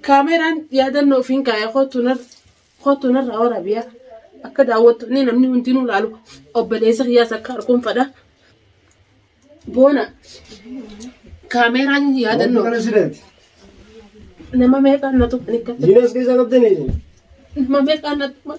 Kaameraan yaadannoo ofiin kaa'e kootu narraa waraabiyaa akka daawwattoonni namni hundinuu laalu obboleessa kiyyaas akka arguun fadha. Boona kaameraan yaadannoo nama meeqaan na tuqan akka Jinas keessa qabdanii. nama meeqaan na tuqan.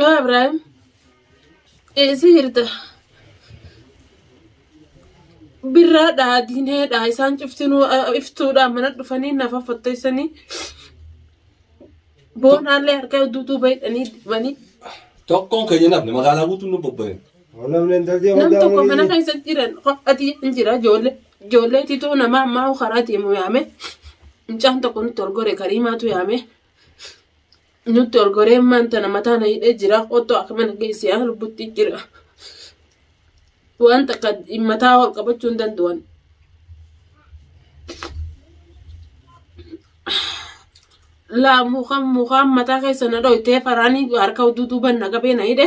Yaa Ibraahim, eessi jirta? Birraadhaa, diineedhaa, isaan cuftinuu ah, iftuudhaa mana dhufanii nafa fotteessanii boonaallee harkaa duutuu baydhanii dibanii Tokkoon keenya namni magaalaa guutuun nu bobba'e. Namni intalti nama amantaa tokko mana amantii. keessa jiran qophaatii hin jira ijoollee ijoollee tituu nama ammaa karaa deemu yaame mucaan tokko nutti ol gore kariimaatu yaame nutti ol goree maan tana mataa na hidhee jira otto akka mana geessi yaa lubbutti jira waan takka mataa ol qabachuu hin danda'an laa mukaan mukaan mataa keessa na dhoytee faraanii harka duduuban na qabee na hidhe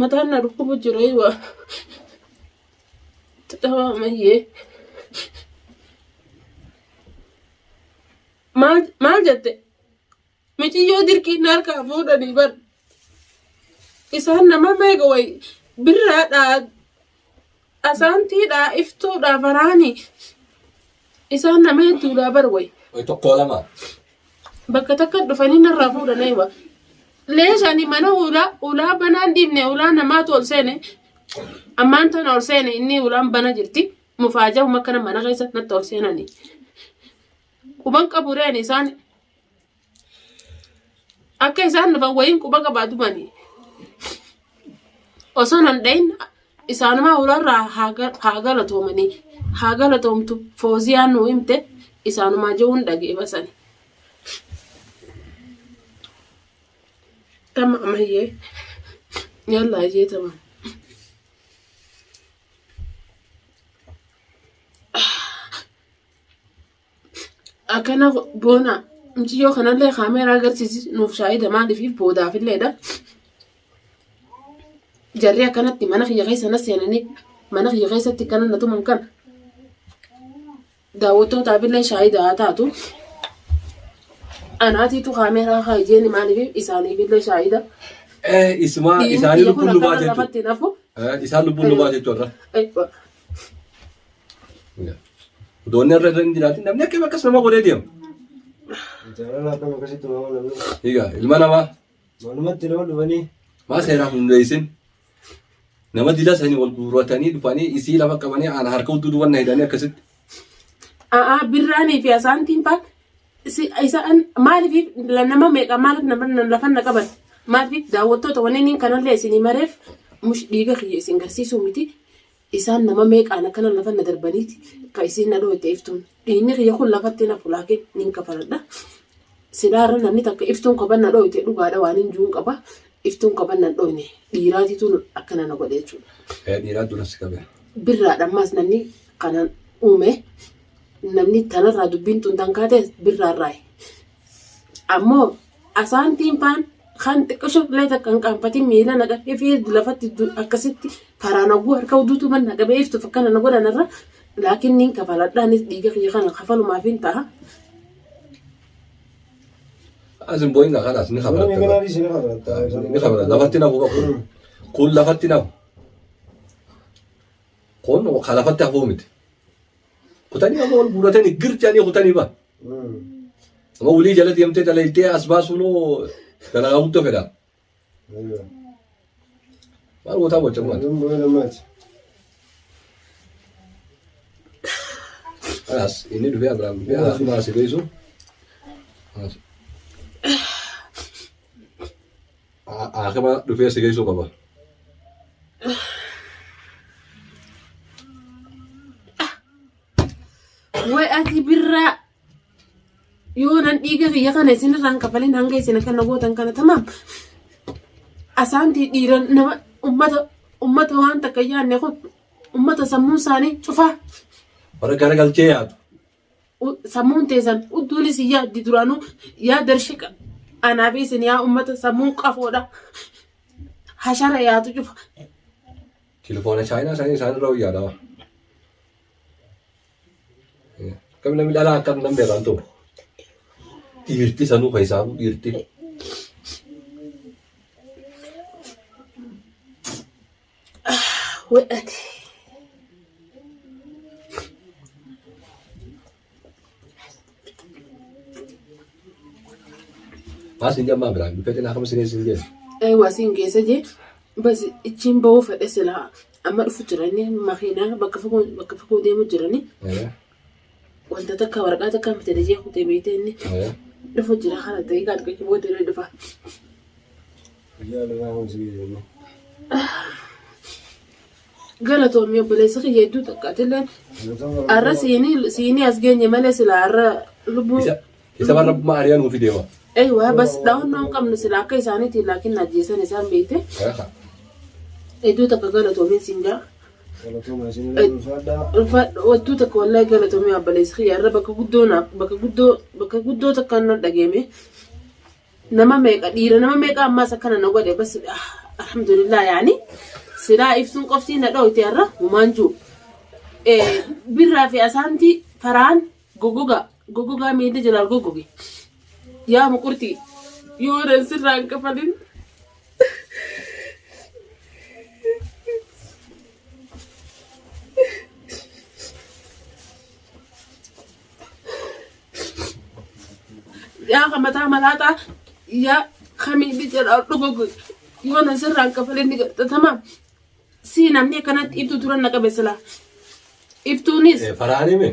Mataan na dhukkubu jiree waa. Taphaa mayyee. Maal maal jette? Miciyyoo dirqiin na harkaa fuudhanii bar. Isaan nama meeqa wayi birraadhaa Asaantii dhaa iftuu dhaa faraani isaan nama hedduu dhaa bar way. Way tokkoo lama. Bakka takka dhufanii narraa fuudhan aywa. Leeshani mana ulaa ulaa banaan dhiibne ulaa namaatu ol seene ammaan tana ol seene inni ulaan bana jirti mufaajahuma akkana mana keessa natti ol seenani. Quban qabureen isaan Akka isaan dhufan wayiin quba qabaa dubanii. Osoo nan dhayin isaanumaa hurarraa haa galatoomanii. Haa galatoomtu fooziyaan nuu himte isaanumaa je'uun dhagee basani. Tama amayyee yalla ayyee tama. akkana boona mucayyoo kanallee kaameeraa agarsiisi nuuf shaahida maaliif boodaafilleedha. Jarri akkanatti mana kiyya keessa na seenanii mana kiyya keessatti kana na tuman kana daawwattootaafillee shaahida haa taatu. Anaatiitu kaameeraa haa ijeeni maaliif isaaniifillee shaahida. Eh, isuma Dhiirri isaanii biyya kun lubbuun lubaa akkana jechuudha. namatti hin hafu. Eh, isaan lubbuun lubaa jechuudha. Eh, Doonni irra hin jiraatin namni akka akkas nama godhee deema. Jaalala akkam akkasitti nama namni. Egaa ilma namaa Manumatti nama dhufanii. maa seeraan hundeessin nama dila sanii wal guurratanii dhufanii isii lafa qabanii aan harka utuu duwwan na hidhanii akkasitti. A'aa birraanii fi asaantiin faa Si- isa- an- maaliif la- nama meeqa maaliif nama na- lafa na qaban maaliif daawwattoota wanniin kanallee isin himareef mush dhiiga kiyya isin garsiisuu miti isaan nama meeqaan akkana lafa na darbaniiti ka isin na dhooyte iftuun dhiinni kiyya kun lafatti na fulaakin nin kafaladha sidaarra namni takka iftuun koban na dhooyte dhugaadha waan hin juun qaba iftuun koban na dhooyne dhiiraatiituun akkana na godhe jechuudha. Ee dhiiraa duras qabe. birraadha ammaas namni kanan uume namni tanarraa dubbiin tun tan kaate birraarraayi. Ammoo asaantiin faan kan xiqqisho illee takka hin qaanfatin miila naqa ifii lafatti akkasitti faraan oguu harka uduutu man naqa beeftuuf akkana na godhan irra laakiin niin kafaladhaanis dhiiga kiyya kana kafalumaaf hin ta'a. Asin booyinga kanas ni Namni kabarata. kanaa dhiisee ni kabarata. Ni kabarata. Lafatti nafu qabu. Kun lafatti nafu. Kun ka lafatti hafuu miti. Kutanii amma wal guuratanii gir jedhanii kutanii ba. Amma walii jala deemtee dalaydee as baasuun hoo dalagaa guddoo fedha. Maal gootaa gocha kumaati? As inni dhufee Abiraam dhufee as dhuma as beeksuu. Haakima dhufee si geessuu qaba. Way ati birraa yoo nan dhiiga kiyya kana isin irraan kafalin hanga isin akka na gootan kana tamaam. Asaantii dhiira nama ummata ummata waan takka yaanne kun ummata sammuun isaanii cufaa. Bara garagalchee yaadu. sammuun teessan udduunis hin yaaddi duraanuu yaa darshika anaa fi isin yaa ummata sammuun qafoodha hashara yaatu cufa. Telefoona chaayinaa isaanii isaan irra wayyaadha. Akkam namni dhalaa akkam nan beekan ture. Dhiirti sanuu kan isaafuu dhiirti. Wedhati. As hin jammaa biraa dhufee xinaa kama sireessin jedhu. Ee waasiin keessa jee bas ittiin ba'uu fedhe silaa amma dhufu jiranii makiinaa bakka fagoo bakka fagoo deemu jiranii Wanta takka waraqaa takkaan bitadha jee kutee beeytee inni Ee. dhufu jira kana ta'ee gaad qaqqi booda irra dhufa. Guyyaa lafaa kun si geejjibna. Galatoomi obboleessa kiyya hedduu takka atilleen Galatoomi. har'a siinii siinii as geenye malee silaa har'a lubbuu Isa- Isa waan rabbumaa ari'aa nuufi deema. Ei waa bas dhaawannoo hin qabnu sila akka isaaniitiin laakiin na ajjeesan isaan beekte. Kanafa. Hedduu takka galatoomiin siin jaa. Galatooma isin illee ulfaadhaa. Ulfaadha wattuu takka wallahi galatoomii abbalees kiyya irra bakka guddoo naaf bakka guddoo bakka guddoo takka nan dhageeme. Nama meeqa dhiira nama meeqa ammaas akkana na godhe bas ah, alhamdulillah yaani silaa ibsuun qoftii na dhooyte irra humaan juu. Eh, Birraa fi asaantii faraan Gogogaa gogogaa miilli jalaa gogoge yaa muqurxii yoo nan sirraa hin kafalin. Yaa kan mataa malaaxaa yaa kan miilli jalaa gogoge yoo nan sirraa hin kafalin ni gaxxatama. Si namni akkanatti ibtuu turan na qabe silaa. Ibtuunis Faraanii mee?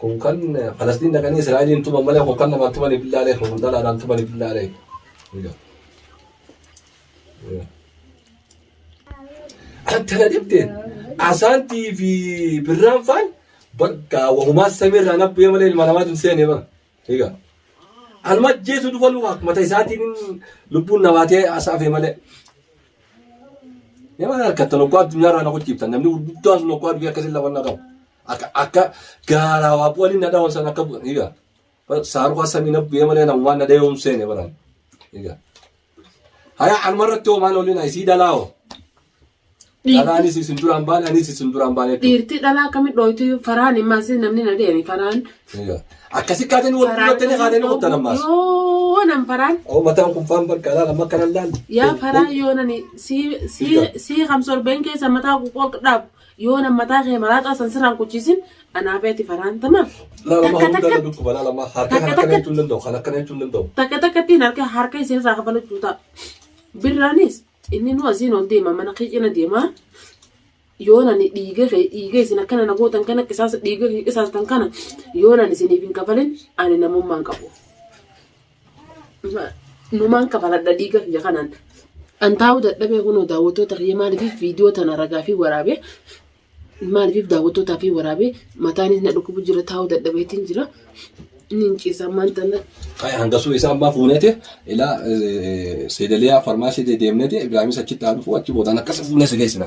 kun kan falastiin dhaqanii israa'eliin tuman malee kun kan namaan tumanii billaalee kun dhalaadhaan tumanii billaalee akkana jetteen asaantii fi birraan faan bakka wahumaa samiirraa nabbee malee ilma namaatu hin seenee bara Egaa anuma ajjeesuu dhufa luka mata isaatiin lubbuun nabaatee asaafe malee. Nama harkatti lokkoo addunyaa irraa na gochiiftan namni gurguddaan sun lokkoo addunyaa akkasiin lafa na qabu. Akka akka gaaraa waa waliin na dhawan san akka egaa saaruu kan samii na bu'ee malee na waan na dhayoomseene baran. Egaa. Haya anuma irratti hoo maal oolina isii dhalaa hoo. Dhalaanis isin duraan baane anis isin duraan baane. Dhiirti dhalaa akkamit dhooytu faraan immaas namni na deemi faraan. Akkasi kaateen wal fuudhattanii kaateen kuttan ammaas. Yoo nan faraan. Oo mataan kun faan bakka laala makka nan laala. Yaa faraan yoo nani sii sii sii kam sorbeen keessa mataa quqoq dhaab. Yoo nan mataa kee maraaxaa san sirraan kuchiisin anaa fi ati faraan tamaaf. Laala Takka maa hundaan takka- na dhukkuba laala maa harka Takka kan akkana takka- jechuun danda'u kan akkana jechuun danda'u. Takka takkatti hin harka harka isin irraa kafalu juutaa. Birraanis inni nu asiin ol deema mana kee cina deema. Yoo nani dhiiga kee dhiiga isin akkana na gootan kana qisaasa dhiiga kee qisaastan kana yoo nani isiniif hin kafalin ani namummaan qabu. Numaan kafaladha dhiiga kiyya kanaan. An taa'uu dadhabee kunoo daawwattoota kiyya maaliif viidiyoo tana ragaa fi waraabee maaliif daawwattootaa fi waraabee mataanis na dhukkubu jira taa'uu dadhabeetiin jira. Inni hin ciisaa maan tana. Hangasuu isaa ammaa fuuneeti ilaa seedaliyaa farmaasii deemneeti Ibraahimis achitti haa dhufu achi boodaan akkasa fuunee si geessina.